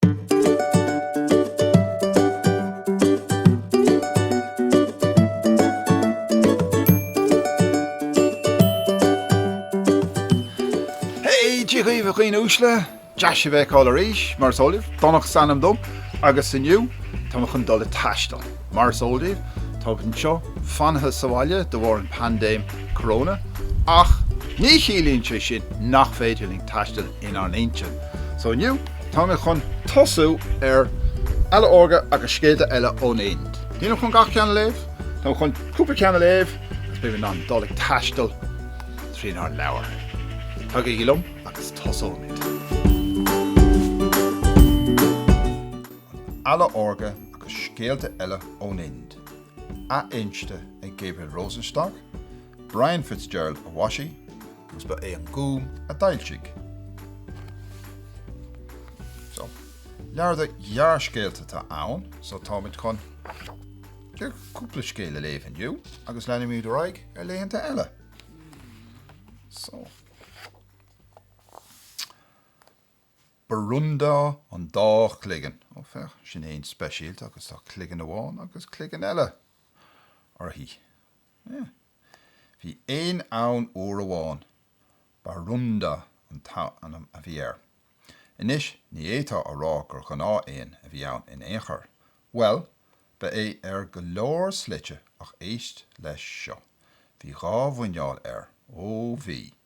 Hey! Dia dhaoibh a dhaoine uaisle! Deas sibh a fheiceáil arís, mar is eol daoibh, Donnchadh is ainm dom agus inniu tá mé chun dul ag taisteal. Mar is eol daoibh, táimid anseo fanaithe sa bhaile de bharr an phaindéim coróna ach ní chiallaíonn sé sin nach féidir linn taisteal inár n-intinn. So inniu, táimid chun tosú ar Eala Órga agus scéalta eile ón Ind. Nílim chun gach ceann a léamh, táim chun cúpla ceann a léamh agus beimid in ann dul ag taisteal trínár leabhar. Tagaigí liom agus tosóimid! An Eala Órga agus scéalta eile ón Ind, athinste ag Gabriel Rosenstock, Brian Fitzgerald a mhaisigh, agus ba é an Gúm a d'fhoilsigh. So, leabhar de ghearrscéalta atá ann, so táimid chun cúpla scéal a léamh inniu agus leanfaimid ar aghaidh ar laethanta eile. So. Barúnda an dá chloigeann, ó féach, sin éan speisialta, agus tá cloigeann amháin agus cloigeann eile air. Eh. Bhí éan ann uair amháin. Barúnda an t-ainm a bhí air. Anois, ní fhéadfá a rá gur ghnáthéan a bhí ann in aon chor. Bhuel, ba é ar go leor slite, ach éist leis seo. Bhí dhá mhuineál air. Ó, bhí.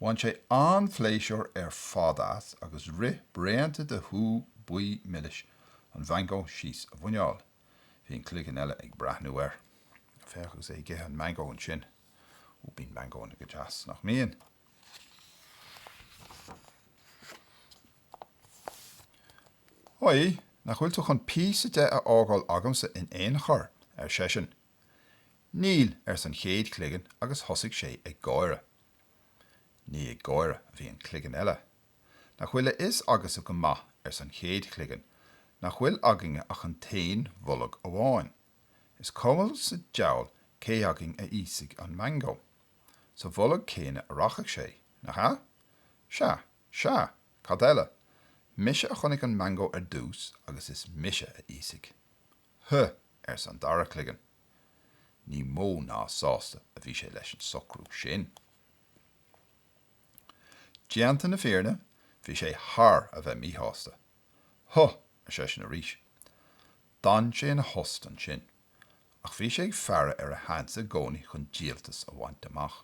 Bhain sé an-phléisiúr ar fad as agus rith braonta de shú buí milis an mhangó síos a mhuineál. Bhí an cloigeann eile ag breathnú air. Féach agus é ag ithe an mhangó ansin. Ó, bíonn mangónna go deas, nach mbíonn? Oi, nach bhfuil tú chun píosa de a fhágáil agamsa in aon chor? ar seisean. Níl, arsa an chéad chloigeann agus thosaigh sé ag gáire. Ní ag gáire a bhí an cloigeann eile. Nach bhfuil a fhios agatsa go maith, arsa an chéad chloigeann, nach bhfuil againne ach an t-aon bholg amháin. Is cuma sa diabhal cé againn a íosfaidh an mangó. Sa bholg céanna a rachaidh sé, nach ea? Sea, sea, cad eile? Mise a chonaic an mangó ar dtús agus is mise a íosfaidh. Huh! arsa an dara cloigeann. Ní mó ná sásta a bhí sé leis an socrú sin. Déanta na fírinne, bhí sé thar a bheith míshásta. Huh! ar seisean arís. D'fhan sé ina thost ansin, ach bhí sé ag faire ar a sheans i gcónaí chun díoltas a bhaint amach.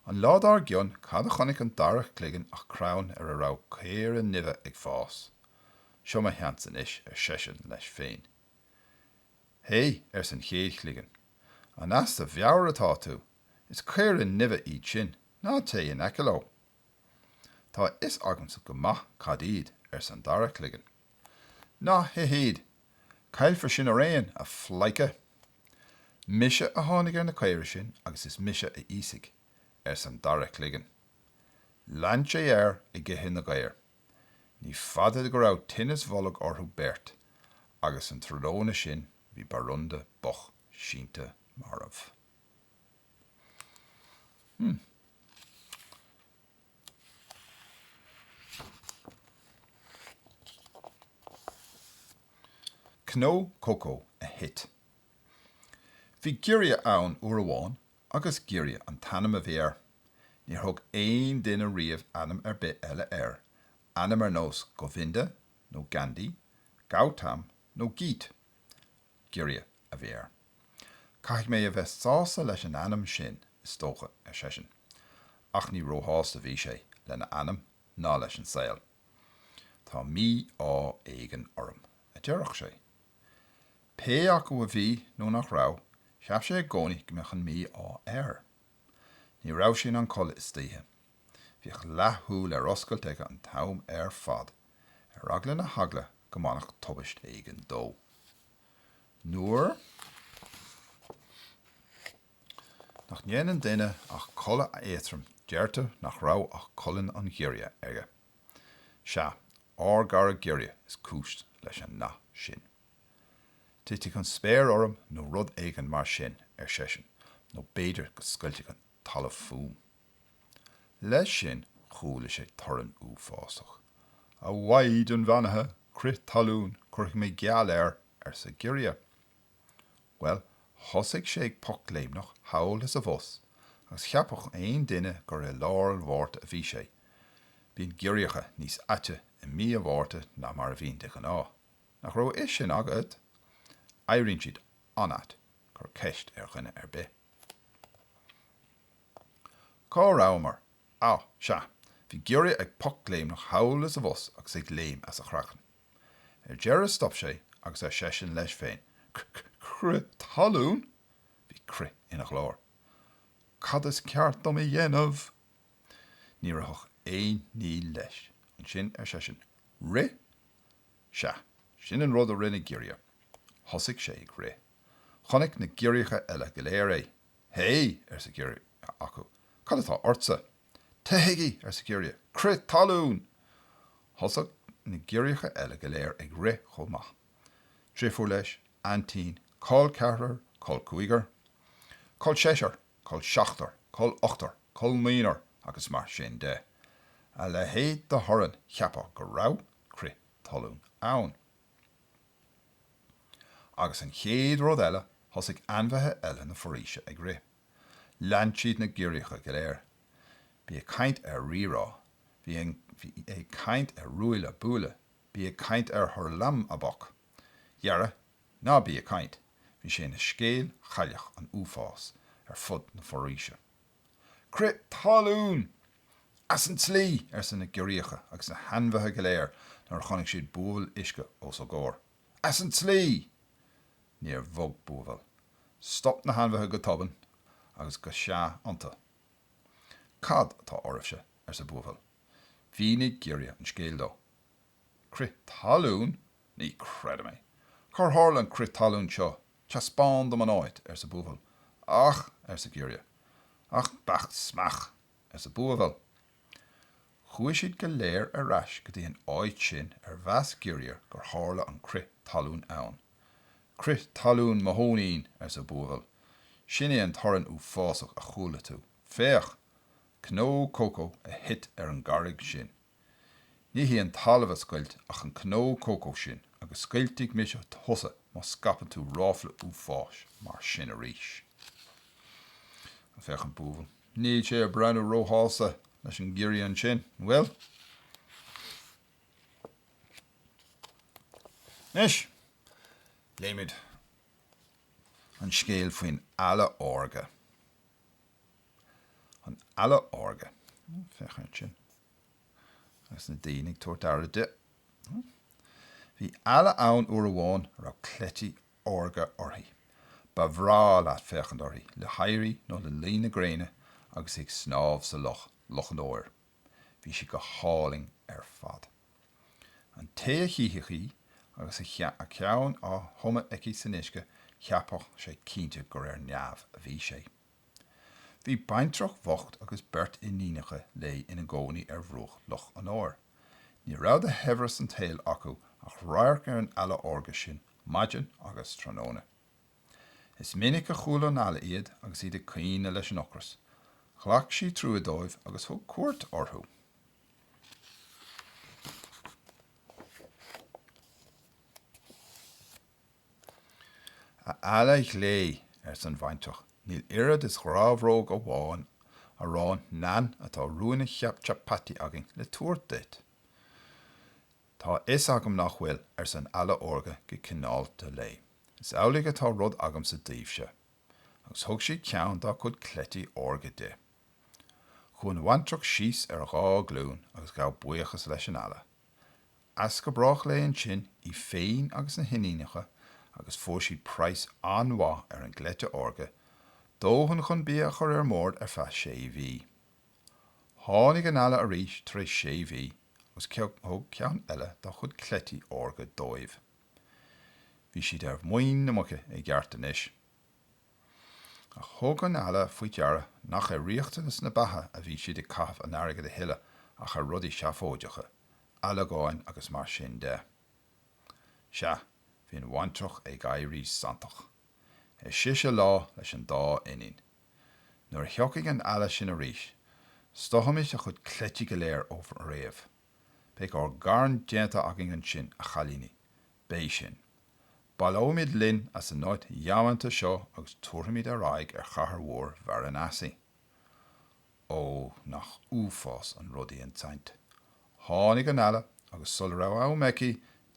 An lá dár gcionn, cad a chonaic an dara cloigeann ach crann ar a raibh caora nimhe ag fás. Seo mo sheans anois, ar seisean leis féin. Hé, arsa an chéad chloigeann, an as do mheabhair atá tú? Is caora nimhe iad sin, ná téigh in aice leo. Tá a fhios agamsa go maith cad iad, arsa an dara cloigeann. Ná hith iad! Caillfear sinn araon, a phleidhce! Mise a tháinig ar na caora sin agus is mise a íosfaidh, arsa an dara cloigeann. Lean sé air ag ithe na gcaor. Ní fada go raibh tinneas boilg orthu beirt agus an tráthnóna sin bhí Borunda Bok sínte marbh. Hmm. Cnó cócó a thit. Bhí giorria ann uair amháin agus Giorria an t-ainm a bhí air. Níor thug aon duine riamh ainm ar bith eile air, ainm ar nós Govinda nó Gandhi, Gautam nó Geet. Giorria a bhí air. Caithfidh mé a bheith sásta leis an ainm sin, is dócha, ar seisean. Ach ní róshásta a bhí sé lena ainm ná leis an saol. Tá mí-ádh éigin orm, a deireadh sé. Pé acu a bhí nó nach raibh, cheap sé i gcónaí go mbeadh an mí-ádh air. Ní raibh sé in ann codladh istoíche. Bhíodh leathshúil ar oscailt aige an t-am ar fad. ar eagla na heagla go mbainfeadh tubaist éigin dó. Nuair nach ndéanann duine ach codladh éatrom deirtear nach raibh ach codladh an ghiorria aige. Sea, ár gcara giorria is cúis leis an nath sin. Titfidh an spéir orm nó rud éigin mar sin, ar seisean, nó b'fhéidir go scoiltfidh an talamh fúm. Leis sin chuala sé torann uafásach. A Mhaighdean Bheannaithe, crith talún, cuirfidh mé geall air! arsa giorria. Bhuel, thosaigh sé ag pocléimneach thall is abhus agus cheapfadh aon duine gur i lár an Mhárta a bhí sé. Bíonn giorriacha níos aite i mí an Mhárta ná mar a bhíonn de ghnáth. Nach raibh a fhios sin agat? Éiríonn siad an-ait, cuir ceist ar dhuine ar bith. Cá rabhamar? Á, sea, bhí giorria ag pocléimneach thall is abhus agus ag léim as a chraiceann. Ar deireadh stop sé agus ar seisean leis féin, Crith talún? Bhí crith ina ghlór. Cad is ceart dom a dhéanamh? Ní ritheadh aon ní leis. Ansin ar seisean, Rith? Sea, sin an rud a rinne giorria. Thosaigh sé ag rith. Chonaic na giorriacha eile go léir é. Hé! arsa giorria acu. Cad atá ortsa? Teithigí! arsa giorria. Crith talún! Thosaigh na giorriacha eile go léir ag rith chomh maith. Driofúr leis, aintín, col ceathrar, col cúigear, col seisear, col seachtar, col ochtar, col naonar agus mar sin de. A leithéid de thorann, cheapfá go raibh crith talún ann. Agus an chéad rud eile, thosaigh ainmhithe eile na foraoise ag rith. Lean siad na giorriacha go léir. Bí ag caint ar rírá! Bí ag caint ar ruaille buaille! Bí ag caint ar hurlamaboc! Dhera, ná bí ag caint! Bhí sé ina scéal chailleach an uafáis ar fud na foraoise. Crith talún! As an tslí! arsa na giorriacha agus na hainmhithe go léir nuair a chonaic siad buabhaill uisce os a gcomhair. As an tslí! Níor bhog buabhall. Stop na hainmhithe go tobann agus ga seá iontu. Cad atá oraibhse? arsa buabhall. Mhínigh giorria an scéal dó. Crith talún? Ní chreidim é. Cár tharla an crith talún seo? Teaspáin dom an áit, arsa Buabhall. Ach! arsa Giorria. Ach beach smeach! arsa Buabhall. Chuaigh siad go léir ar ais go dtí an áit sin ar mheas Giorria gur tharla an crith talún ann. Crith talún mo thóinín! arsa Buabhall. Sin é an torann uafásach a chuala tú. Féach! Cnó cócó a thit ar an gcarraig sin. Ní hé an talamh a scoilt ach an cnó cócó sin agus scoiltfidh mise thusa má scaipeann tú ráfla uafáis mar sin arís. Agus féach an buabhall, níl sé ag breathnú róshásta leis an ngiorria ansin, an bhfuil? Anois, léimid an scéal faoin eala órga. an eala órga, féach ansin, agus na daoine ag tabhairt aire di. Bhí eala ann uair amháin a raibh cleití órga uirthi. Ba bhreá leat féachaint uirthi le héirí nó le luí na gréine agus í ag snámh sa loch, Loch an Óir. Bhí sí go hálainn ar fad. An té a chífeadh í agus a ceann á thumadh aici san uisce, cheapfadh sé cinnte gur ar neamh a bhí sé. Bhí baintreach bhocht agus beirt iníonacha léi ina gcónaí ar bhruach Loch an Óir. Ní raibh de shaibhreas an tsaoil acu ach radharc ar an Eala Órga sin maidin agus tráthnóna. Is minic a chuala an Eala iad agus iad ag caoineadh leis an ocras. Ghlac sí trua dóibh agus thug cuairt orthu. A eala ghlé, ars an bhaintreach, níl oiread is grabhróg amháin aráin naan ná ruainne chapatti againn le tabhairt duit. Tá a fhios agam nach bhfuil, ars an eala órga go cineálta léi. Is amhlaidh atá rud agamsa daoibhse. Agus thug sí ceann dá cuid cleití órga di. Chuaigh an bhaintreach síos ar a dhá glún agus ghabh buíochas leis an eala. as go brách léi ansin, í féin agus na hiníonacha, agus fuair siad praghas an-mhaith ar an gcleite órga, dóthain chun bia a chur ar an mbord ar feadh sé mhí. Tháinig an eala arís tar éis sé mhí agus thug ceann eile dá chuid cleití órga dóibh. Bhí siad ar mhuin na muice i gceart anois. Ach thug an Eala faoi deara nach ar riachtanas na beatha a bhí siad ag caitheamh an airgid a thuilleadh ach ar rudaí seafóideacha, ailleagáin agus mar sin de. Sea, bhí an bhaintreach ag éirí santach. Ar sise lá leis an dá iníon. Nuair a thiocfaidh an Eala sin arís, stoithfimid a chuid cleití go léir ó fhréamh. Beidh ár gcarn déanta againn ansin, a chailíní, Beidh sin. Baileoimid linn as an áit dheamanta seo agus tabharfaimid ár n-aghaidh ar chathair mhór Varanasi. Ó, nach uafásach an rud í an tsaint! Tháinig an Eala agus sula raibh am aici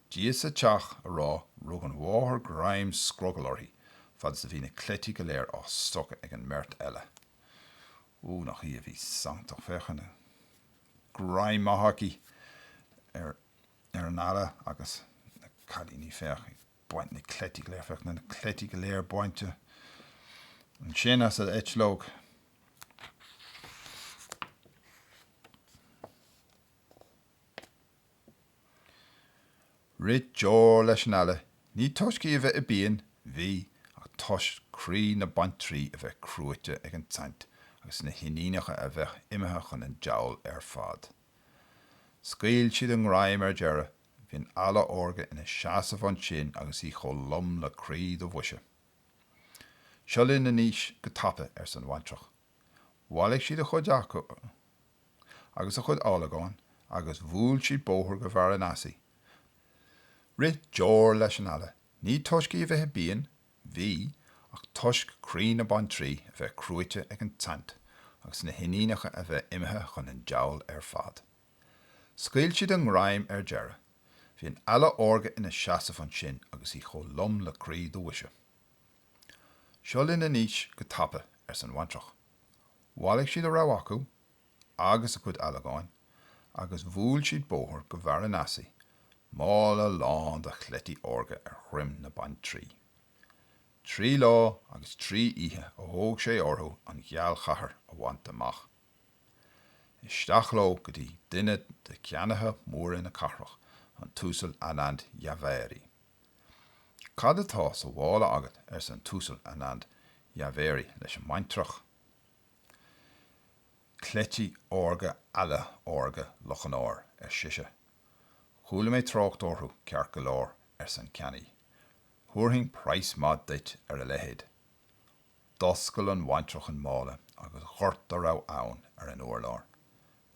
Dia sa Teach a rá rug an mháthair greim scrogaill uirthi fad is a bhí na cleití go léir á stoitheadh ag an mbeirt eile. Ó, nach í a bhí santach! Féach an greim maith aici ar ar an eala agus na cailíní féach ag baint na cleití go léir, féach na cleití go léir bainte ansin as a eitleog. Rith deoir leis an eala, ní toisc í a bheith i bpian, bhí, ach toisc croí na baintrí a bheith cruaite ag an tsaint agus na hiníonacha a bheith imithe chun an diabhail ar fad. Scaoil siad a ngreim ar deireadh. Bhí an eala órga ina seasamh ansin agus í chomh lom le croí do bhoise. 'Seo linn anois go tapa, arsa an bhaintreach. Bhailigh siad a chuid acu agus a gcuid áilleagán agus bhuail siad bóthar go Varanasi. Rith deoir leis an eala. Ní toisc í a bheith i bpian Bhí, ach toisc croí na baintrí a bheith cruaite ag an tsaint agus na hiníonacha a bheith imithe chun an diabhail ar fad, scaoil siad a ngreim ar deireadh. Bhí an eala órga ina seasamh ansin agus í chomh lom le croí do bhoise. 'Seo linn anois go tapa, arsa an bhaintreach. Bhailigh siad a raibh acu, agus a cuid ealagáin agus bhuail siad bóthar go Varanasi, mála lán de chleití órga ar dhroim na baintrí. Trí lá agus trí oíche a thóg sé orthu an ghealchathair a bhaint amach. Isteach leo go dtí duine de cheannaithe móra na cathrach, an tUasal Anand Javeri. Cad atá sa mhála agat arsa an tUasal Anand Javeri leis an mbaintreach. Cleití órga eala órga Loch an Óir, ar sise. Chuala mé trácht orthu, ceart go leor, arsa an ceannaí. Thabharfainn praghas maith duit ar a leithéid. D'oscail an bhaintreach an mála agus dhoirt a raibh ann ar an urlár.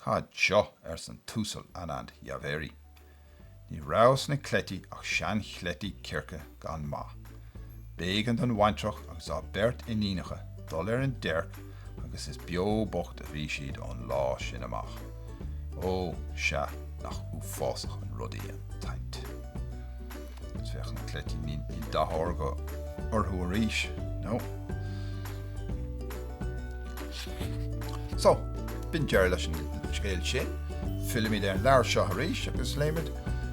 Ha jo! arsa an tUasal Anand Jhaveri. Ní raibh sna cleití ach seanchleití circe gan maith. B'éigean don bhaintreach agus dá beirt iníonacha dul ar an déirc agus is beo bocht a bhí siad ón lá sin amach. Ó, sea, nach uafásach an rud í an tsaint! Féach na cleití, níl dath órga orthu arís, nó? So, b'in deireadh leis an scéal sin. Fillfimid ar an leabhar seo arís agus léifimid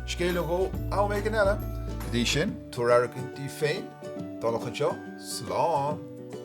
scéal nó dhó am éigin eile. Go dtí sin, tugaigí aire daoibh féin, tamall acu seo, slán!